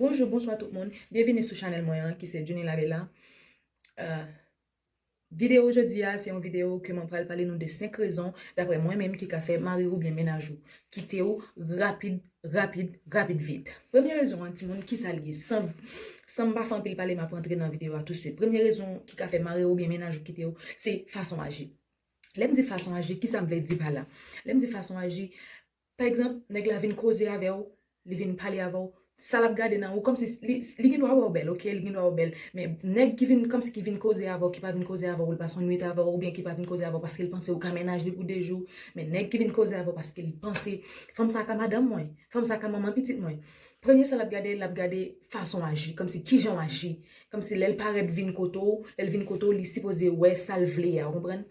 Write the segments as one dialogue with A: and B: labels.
A: Bonjou bonswa tout moun, byenvini sou chanèl mwen an ki se Junie la Bella Videyo jodi a se yon videyo ke mwen pral pale nou de 5 rezon daprè mwen menm ki ka fè mari ou byen mennaj ou kite ou rapid rapid rapid vit Premye rezon an timoun kisa l ye san m pa fè anpil pale m ap rantre nan videyo a tousuit Premye rezon ki ka fè mari ou byen mennaj ou kite ou se fason aji Lè m di fason aji kisa m vle di pa la Lè m di fason aji Pa egzanp, nèg la vin koze avè w, li vin pale avè w, sa l ap gade nan ou kòmsi li gen dwa wè w bèl ok, li gen dwa wè w bèl men nèg ki vin kòmsi ki vin koze avè w ki pa vin koze avè w li pase yon nwit avè w oubyen ki pa vin koze avè w paske li panse ou ka mennaj li pou 2 jou men nèg ki vin koze avè w paske li panse fanm sa ka madanm mwen, fanm sa ka manman pitit mwen premye sa l ap gade l ap gade fason w aji kòmsi kijan w aji kòmsi lè l parèt vin kote w lè l vin kote w li sipoze wè sa l vle a ou konprann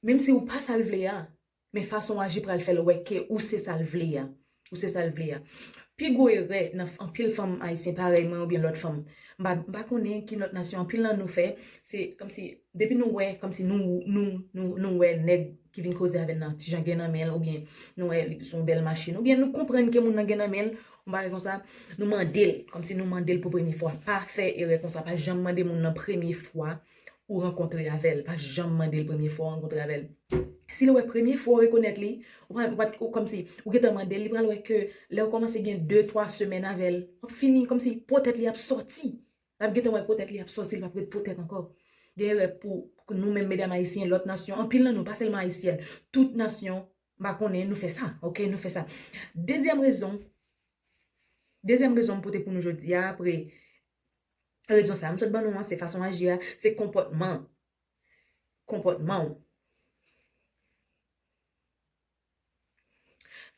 A: menmsi ou pa sa l vle a Men fason w aji pral fè l wè ke ou se sa l vle a. Ou se sa l vle a. Pi gwo erè nan anpil fanm ayisyen parèy mwen oubyen lòt fanm, m pa m pa konnen ki lòt nasyon anpil nan nou fè, se kòmsi depi nou wè kòmsi nou nou nou nou wè nèg ki vin koze avè n nan ti jan gen nan men l oubyen nou wè li son bèl machin oubyen nou konprann ke moun nan gen nan men l yon bagay konsa, nou mande l kòmsi nou mande l pou premye fwa. Pa fè erè konsa. Pa janm mande moun nan premye fwa ou rankontre avèl pa janm mandel premye fwa ou rankontre avèl sil wè premye fwa ou rekonèt li ou kòmsi ou gentan mandel li pral wè ke lèw kòmanse gen 2 3 semèn avèl wap fini kòmsi po tèt li ap sòti lap gentan wè po tèt li ap sòti li pap ret po tèt ankò gen erè pou nou menm medam ayisyen lòt nasyon anpil nan nou pa sèlman ayisyèn tout nasyon mpa konnen nou fè sa ok nou fè sa dezyèm rezon dezyèm rezon mpote pou nou jodia apre Rezon sa a m sot ban nou an, se fason aji a, se konpòtman ou. Konpòtman ou.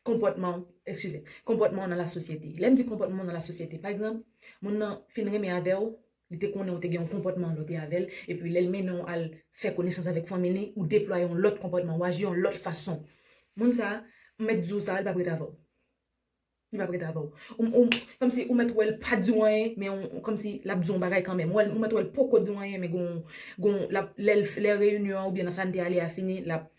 A: Konpòtman ou, ekskize, konpòtman ou nan lasosyete. Lè m di konpòtman ou nan lasosyete, pa egzanp, moun nan fin renmen avè ou, li te konnen ou te gen yon konpòtman lè w te avè l, epi lè l mennen ou al fè konesans avèk fanmi li, ou deplwaye yon lòt konpòtman, ou aji yon lòt fason. Moun sa a, m mèt di w sa a, li p ap ret avè w. Li pap ret avèw. Ou kòmsi ou mèt wèl pa diw anyen men ou kòmsi lap diw yon bagay kanmenm. Ou mèt wèl poko diw anyen men gon yon lap lè reyinyon an oubyen nan sa n te ale a fini lap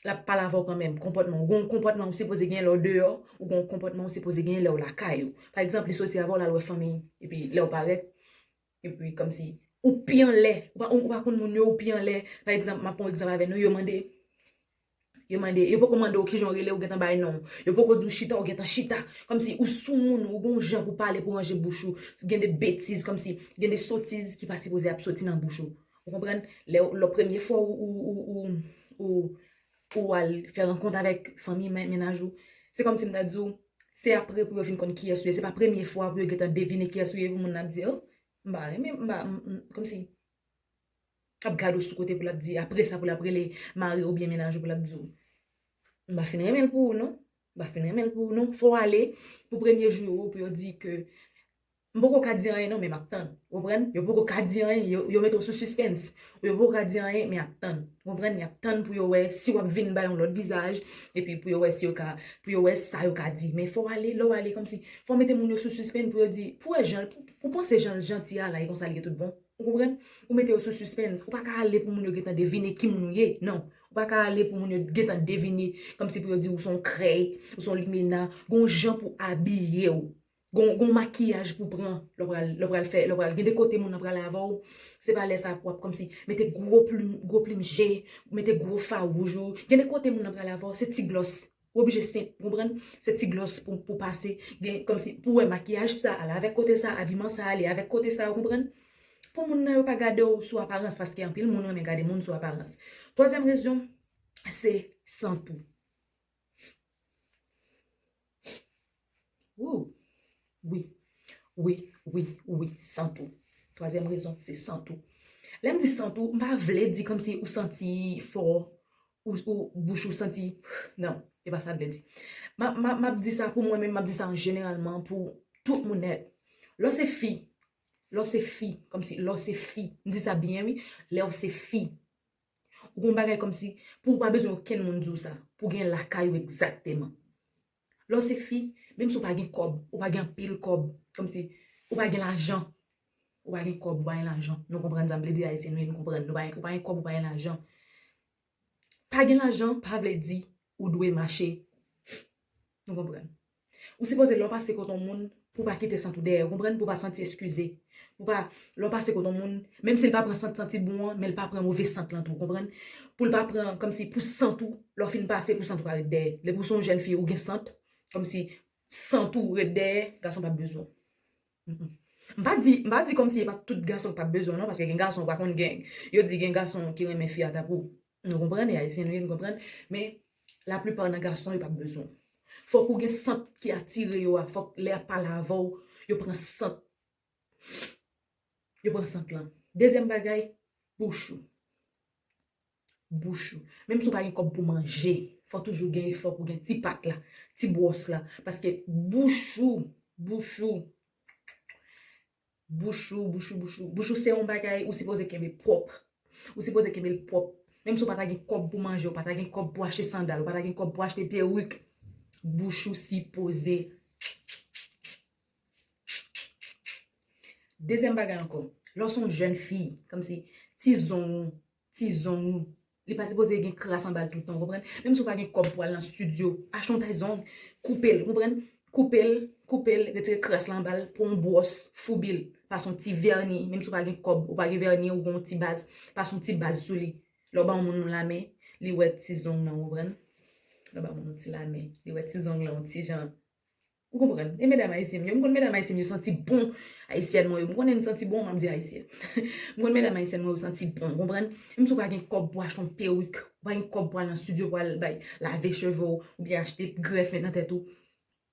A: lap pale avèw kanmenm. Konpòtman ou gon yon konpòtman ou sipoze genyen lèw deyò ou gon yon konpòtman ou sipoze genyen lèw lakay ou. Pa egzanp li soti avèw lal wè fanmiy epi lèw parèt Epi kòmsi ou pi anlè, ou pa konn moun yo, ou pi anlè. Pa egzanp, m ap pran yon egzanp avè nou, yo mande, yo mande, yo poko mande w kijan ou rele, ou gentan bay non w. Yo poko di w chita, ou gentan chita. Kòmsi ou soumoun, ou gen yon jan pou pale, pou ranje bouch ou. Gen de betiz, kòmsi gen de sotiz ki pa sipoze ap soti nan bouch ou. Ou konprann? Lè w, lò premye fwa ou, ou, ou, ou, ou, Pou ou al fè rankont avèk fanmi mennaj ou. Se kòmsi m ta di w, se apre pou yo fin konn kiyès ou ye. Se pa premye fwa pou yo gentan devine kiyès ou ye pou moun nan ap di, oh, m pa renmen, m pa, kòmsi, ap gad ou sou kote pou l ap di, apre sa pou l ap rele mari oubyen mennaj ou pou l ap di w, m pa fin renmen l pou ou non, m pa fin renmen l pou ou non. Fò w ale pou premye jou yo pou yo di ke M poko ka di anyen non men map tann ou konprann yo poko ka di anyen yo mete w sou sispens yo poko ka di anyen men yap tann ou konprann yap tann pou yo wè si wap vin bay yon lòt vizaj epi pou yo wè si yo ka pou yo wè sa yo ka di men fò w ale lè w ale kòmsi fò w mete moun yo sou sispenn pou yo di pou wè jan ou panse jan l janti a la e konsa l ye tout bon ou konprann ou mete yo sou sispenn ou paka ale pou moun yo gentan devine ki moun ou ye nan ou paka ale pou moun yo gentan devine kòmsi pou yo di w ou son krèy ou son limena gon jan pou abiye w Gon makiyaj pou pran lè w pral fè, lè w pral gen de kote moun nan prale avè w, se pa lè sa pou w ap kòmsi mete gwo plim, gwo plim je, mete gwo fard wouj ou. Gen de kote moun nan prale avè w, se ti glòs, w oblije senp, ou konprann? Se ti glòs pou w pase, gen kòmsi pou w wè makiyaj sa ale avèk kote sa, abiman sa ale avèk kote sa, ou konprann? Pou moun nan yo pa gade w sou aparans, paske anpil moun renmen gade moun sou aparans. Twazyèm rezon, se san pou. Wouw! Wi, wi, wi, wi, san tou. Twazyèm rezon, se san tou. Lè m di san tou, m pa vle di kòm si ou santi fò, ou bouch ou santi, nan, e pa sa m vle di. M ap di sa pou mwen menm, m ap di sa an jeneralman pou tout moun nèt. Lè w se fi, lè w se fi, kòm si lè w se fi, m di sa byen wi, lè w se fi, Ou gen yon bagay kòmsi pou ou pa bezwen okenn moun di w sa, pou w gen lakay ou egzakteman. Lè w se fi, menm si w pa gen kòb, ou pa gen anpil kòb, kòmsi ou pa gen lajan, ou pa gen kòb, ou pa gen lajan, nou konprann sa, m plede Ayisyen nou ye, nou konprann, ou pa gen kòb, ou pa gen lajan. Pa gen lajan pa vle di ou dwe mache, nou konprann. Ou sipoze lè w pase kote yon moun pou w pa kite sant ou dèyè, ou konprann, pou w pa santi eskize. Pou w pa, lè w pase kote yon moun, menm si l pa pran sant santi bon an, men l pa pran move sant lan tou, ou konprann. Pou l pa pran, kòmsi, pou sant ou, lè w fin pase, pou sant ou pa ret dèyè. Depi ou se yon jèn fi, ou gen sant, kòmsi, sant ou ret dèyè, gason pa p bezwen w. M pa di, m pa di kòmsi e pa tout gason k pa p bezwen w non, paske gen gason ou pa konn gen, yo di gen gason ki renmen fi a tankou, Nou konprann e ayisyen nou ye nou konprann men la plupart nan gason yo pap bezwen w. Fok ou gen sant ki atire yo a fok lè yap pale avèw yo pran sant yo pran sant lan. Dezyèm bagay bouch ou bouch ou menm si w pa gen kob pou manje fok toujou gen efò pou gen ti pat la ti bwòs la paske bouch ou bouch ou Bouch ou, bouch ou, bouch ou. Bouch ou se yon bagay ou sipoze kenbe pwòp. Ou sipoze kenbe l pwòp. Menm si ou pa ta gen kòb pou manje, ou pa ta gen kòb pou achte sandal, ou pa ta gen kòb pou achte peruk, bouch ou sipoze. Dezyèm bagay ankò, lè w se yon jèn fi, kòmsi ti zong ou, ti zong ou. Li pa sipoze gen kras anba l tout tan ou konprann. Menm si ou pa gen kòb pou al nan stidyo, achte yon tay zong, koupe l ou konprann. Koupe l, koupe l, retire kras la anba l, pran yon bwòs, foubi l, pase yon ti vèni, menm si ou pa gen kòb, ou pa gen vèni ou gen yon ti baz, pase yon ti baz sou li. Lè w ba yon moun yon lamen, li wè ti zong nan ou konprann. Lè w ba yon moun yon ti lamen, li wè ti zong lan yon ti jan. Ou konprann? E medam Ayisyen m yo? M konn medam Ayisyen m yo santi bon. Ayisyèn mwen yo, m konnen n santi bon, m ap di Ayisyen. M konn medam Ayisyèn mwen yo santi bon, ou konprann? Menm si w pa gen kòb pou achte yon perik, ou pa gen kòb pou al nan stidyo pou al bay lave cheve w, oubyen achte grèf met nan tèt ou,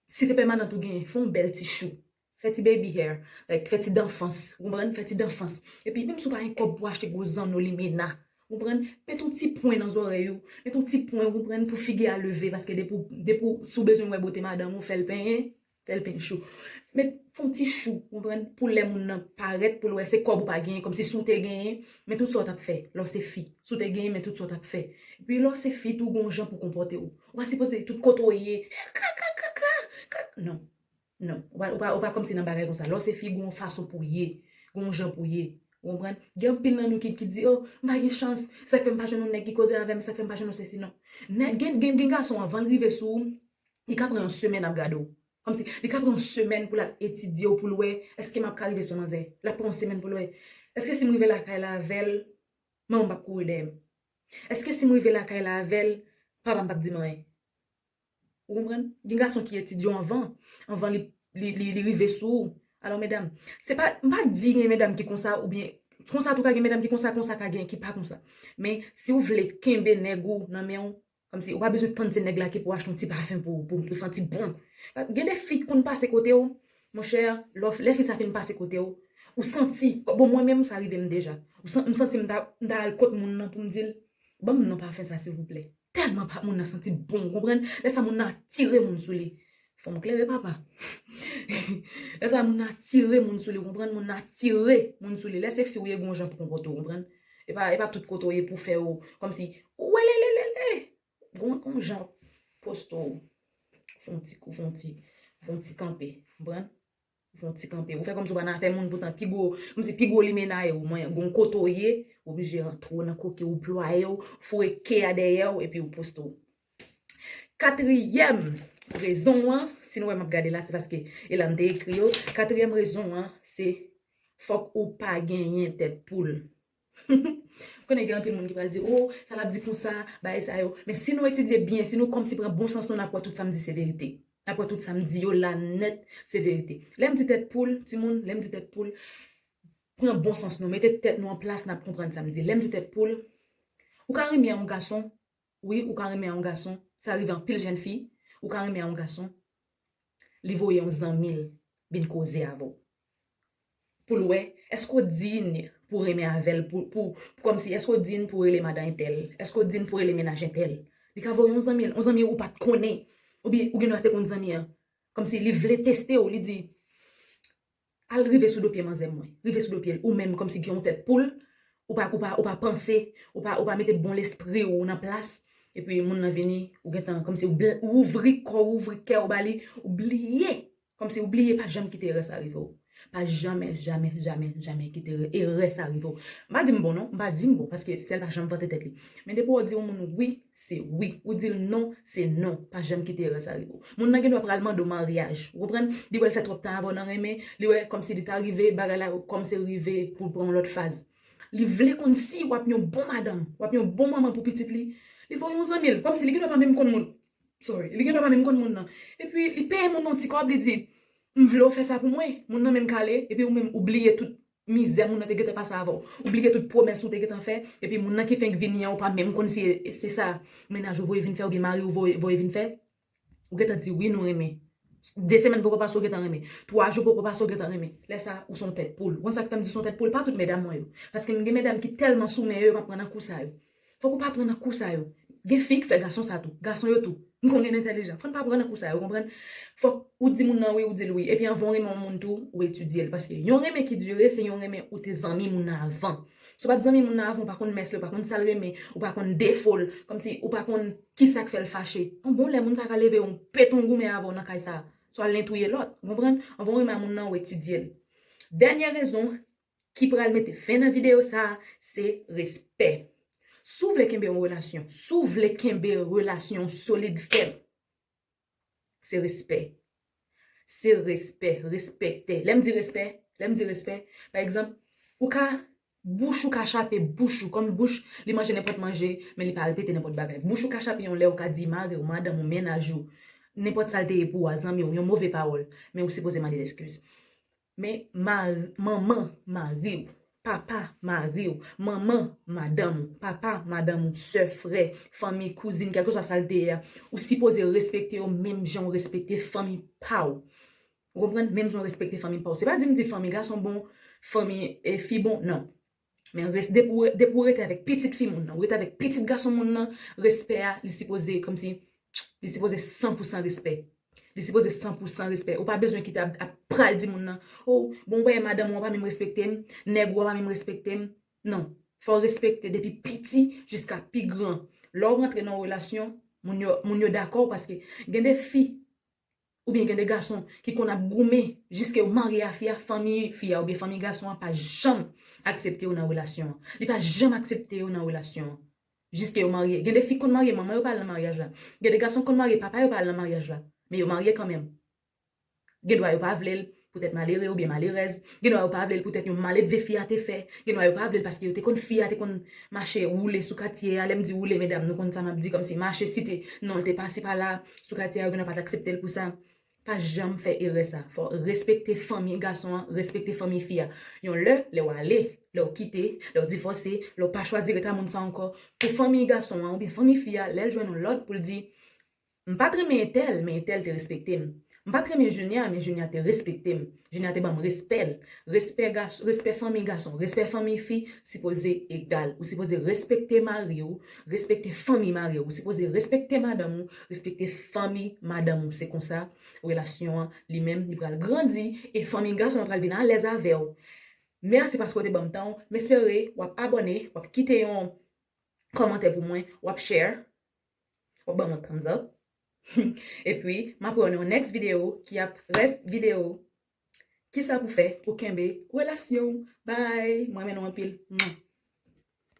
A: si se pèmanant ou genyen, fè yon bèl ti chou. Fè ti baby hair. Like, fè ti danfans. Ou konprann? Fè ti danfans. Epi, menm si w pa gen kòb pou achte gwo zanno limena, Ou konprann? Met yon ti pwen nan zòrèy ou, met yon ti pwen ou konprann pou figi a leve paske depi depi si w bezwen wè bote madanm ou fèl penyen, fèl penyen chou. Met fon ti chou ou konprann pou lè moun nan parèt pou l wè se kòb ou pa genyen kòmsi si w te genyen men tout sa w tap fè lè w se fi, si w te genyen men tout sa w tap fè. Epi lè w se fi tou gon jan pou w konpòte w. Ou pa sipoze tout kote w ye, kaka kaka kaka nan. Non. Ou pa ou pa kòmsi nan bagay konsa. Lè w se fi, gen yon fason pou w ye. Gen yon jan pou w ye. Ou konprann? Gen anpil nan nou ki ki di, Oh, m pa gen chans. Se sa k fè m pa jwenn yon nèg ki koze avè m. Se sa k fè m pa jwenn yon sesi. Non. Nèg gen gen gen gason anvan l rive sou ou, li ka pran yon semèn ap gade w. Kòmsi, li ka pran yon semèn pou l ap etidye w pou l wè, Èske m ap ka rive sou manzè? L ap pran yon semèn pou l wè, Èske si m rive lakay la avè l, manman m p ap kouri dèyè m? Èske si m rive lakay la avè l, papa m p ap di m anyen? Ou konprann? Gen gason ki etidye w anvan, anvan li rive sou ou. Alò medam, se pa, m pa di gen medam ki konsa oubyen, konsa tou ka gen medam ki konsa, konsa ka gen ki pa konsa. Men, si w vle kenbe nèg ou nan men w, kòmsi ou pa bezwen tann se nèg la ki pou achte yon ti pafen pou ou, pou ou santi bon. Gen de fi ki konn pase kote w, monchè, lò, lè fi sa fin pase kote w, ou santi, bon mwen menm sa rive m deja. M santi m ta, m ta al kot moun nan pou m di l, ban m non pafen sa silvouplè. Tèlman pa moun nan santi bon ou konprann lè sa moun nan atire moun sou li fò m klere papa lè sa moun nan atire moun sou li ou konprann moun nan atire moun sou li lè se fi ou ye gon w jan pou konpòte w konprann e pa e pa tout kote w ye pou fè w kòmsi welelelele gon gon w jan pou poste w fon ti kou fon ti fon ti kanpe ou konprann. Ou fon ti kanpe. Ou fè kòmsi ou pa nan afè moun poutan pi gwo, kòmsi pi gwo limena ye ou. Mwen, gon kote ou ye, ou oblije rantre ou nan koke ou plwaye ou, foure ke a dèyè ou epi ou poste ou. Katriyèm rezon an, si nou wè m'ap gade la se paske e la m'te ekri yo, katriyèm rezon an se fòk ou pa genyen tèt poul. M konnen gen anpil moun ki pral di, oh sa lap di konsa, bagay sa yo. Men si nou etidye byen, si nou kòmsi pran bon sans nou nap wè tout sam di se verite. Nap wè tout sam di yo la nèt se verite. Lèm di tèt poul, timoun, lèm di tèt poul, pran bon sans nou, mete tèt nou an plas nap konprann sam di. Lèm di tèt poul, ou ka renmen yon gason, Wi ou ka renmen a yon gason sa rive anpil jèn fi ou ka renmen a yon gason li voye yon zanmil vin koze avèw poul wè èske ou digne pou renmen avèl pou kòmsi èske ou digne pou rele madan entèl èske ou digne pou rele mennaj entèl li ka voye yon zanmil yon zanmi ou pat konnen oubyen ou gendwa te konn zanmi an kòmsi li vle testew li di Al rive sou do pye manzè mwen. Rive sou do pye l ou menm kòmsi gen yon tèt poul ou pa ou pa ou pa panse ou pa ou pa mete bon lespri ou nan plas epi moun nan vini ou gentan kòmsi ou bl ou ouvri kò ou ouvri kè ou ba li ou bliye kòmsi ou bliye pa janm kite erè sa rive w pa jamè jamè jamè jamè kite erè erè sa rive w m pa di m bon non m pa di m bon paske syèl pa janm vante tèt li men depi w di yon moun wi se wi. Ou di l non, se non. Pa janm kite erè sa rive w. Moun nan gendwa pral mande w maryaj. Ou konprann? Li wè l fè twòp tan avè w nan renmen. Li wè kòmsi li ta rive, bagay la kòmnse rive pou l pran yon lòt faz. Li vle konn si w ap yon bon madanm, w ap yon bon manman pou pitit li. Li voye yon zanmi l. Kòmsi li gendwa pa menm konn moun. Sorry. Li gendwa pa menm konn moun nan. Epi li peye moun nan yon ti kòb, li di, M vle w fè sa pou mwen. Moun nan menm kale, epi ou menm ou bliye tout Mizè moun nan te gentan pase avèw. Ou bliye tout pwomès ou te gentan fè, epi moun nan ki fenk vini an ou pa menm konn si se sa mennaj ou voye vin fè oubyen mariw voye vin fè. Ou gentan di wi nou renmen. 2 semèn poko pase ou gentan renmen. 3 jou poko pase ou gentan renmen. Lè sa ou son tèt poul. Ou konn sak fèm di son tèt poul pa tout medam mwen yo. Paske m gen medam ki tèlman sou men yo yo pa pran nan kou sa yo. Fok ou pa pran nan kou sa yo. Gen fi k fè gason sa tou. Gason yo tou. M konnen n entèlijan. Fò n pa pran nan kou sa yo, ou konprann. Fòk ou di moun nan wi, ou di l wi. Epi anvan w renmen yon moun tou, ou etidye l. Paske yon renmen ki dire, se yon renmen ou te zanmi moun nan avan. Si w pa t zanmi moun nan avan, ou pa konn mès li, ou pa konn sa l renmen, ou pa konn defo l, kòmsi ou pa konn ki sa k fè l fache. On bon lè, moun sa ka leve yon peton goumen avè w nan kay sa a. Swa l nen touye lòt. Ou konprann. Anvan w renmen a moun nan, ou etidye l. Dènye rezon ki pral mete fen nan video sa se respè si w vle kenbe yon relasyon si w vle kenbe relasyon w solid fèm se respè se respè respekte lè m di respè lè m di respè pa egzanp ou ka bouch ou ka chape bouch ou kòm bouch li manje nenpòt manje men li pa repete nenpòt bagay bouch ou ka chape yon lè ou ka di mari w madanm ou mennaj ou nenpòt sa l te ye pou w a zanmi w yon move pawòl men ou sipoze mande l eskiz Men manman mari ou, papa mari ou, manman madanm ou, papa madanm ou, sè, frè, fanmi, kouzin, kèlkeswa sa l te ye a, ou sipoze respekte yo menm jan ou respekte fanmi pa ou. Ou konprann? Menm jan ou respekte fanmi pa ou. Se pa di m di fanmi gason bon, fanmi fi bon, nan. Men res depi w depi w rete avèk pitit fi moun nan ou rete avèk pitit gason moun nan respè a li sipoze kòmsi li sipoze san pou san respè li sipoze san pou san respè ou pa bezwen kite ap ap pral di moun nan o bon ou pa wè madanm ou an pa menm respekte m nèg ou an pa menm respekte m non fò w respekte depi piti jiska pi gran lè w rantre nan yon relasyon moun yo moun yo dakò paske gen de fi Ou byen gen de gason ki konn ap goumen jiske yo marye a fi a, fanmi fi a ou byen fanmi gason an pa janm aksepte yo nan relasyon an. Li pa janm aksepte yo nan relasyon an. Jiske yo marye. Gen de fi konn marye manman yo pa al nan maryaj la. Gen de gason konn marye papa yo pa al nan maryaj la. Men yo marye kanmenm. Gen dwa yo pa vle l, Poutèt malere oubyen malerèz, gendwa yo pa vle l poutèt yon maledve fi a te fè, gendwa yo pa vle l paske yo te konn fi a te konn mache woule sou katye a, lè m di woule medam nou konn sa m ap di kòmsi mache site non l te pase pa la sou katye a yo gendwa pa t aksepte l pou sa. Pa janm fè erè sa. Fò w respekte fanmi gason an, respekte fanmi fi a. Yon lè, lè w ale, lè w kite, lè w divòse, lè w pa chwazi ret a moun sa ankò, pou fanmi gason an oubyen fanmi fi a lè l jwenn yon lòd pou l di M pa t renmen entèl, men entèl te respekte m. M pa t renmen Junia, men Junia te respekte m. Junia te ban m respè l. Respè gason, respè fanmiy gason, respè fanmiy fi sipoze egal. Ou sipoze respekte mari w, respekte fanmiy mari w. Ou sipoze respekte madanm ou, respekte fanmiy madanm ou. Se konsa relasyon an li menm li pral grandi e fanmiy gason an pral vin alèz avè w. Mèsi paske w te ban m tan w. M espere w ap abòne, w ap kite yon kòmantè pou mwen, w ap share. Ou banm yon thumbs up. Epi map wè w nan yon next video ki ap res video kisa pou fè pou kenbe relasyon w bye m renmen nou anpil mwah.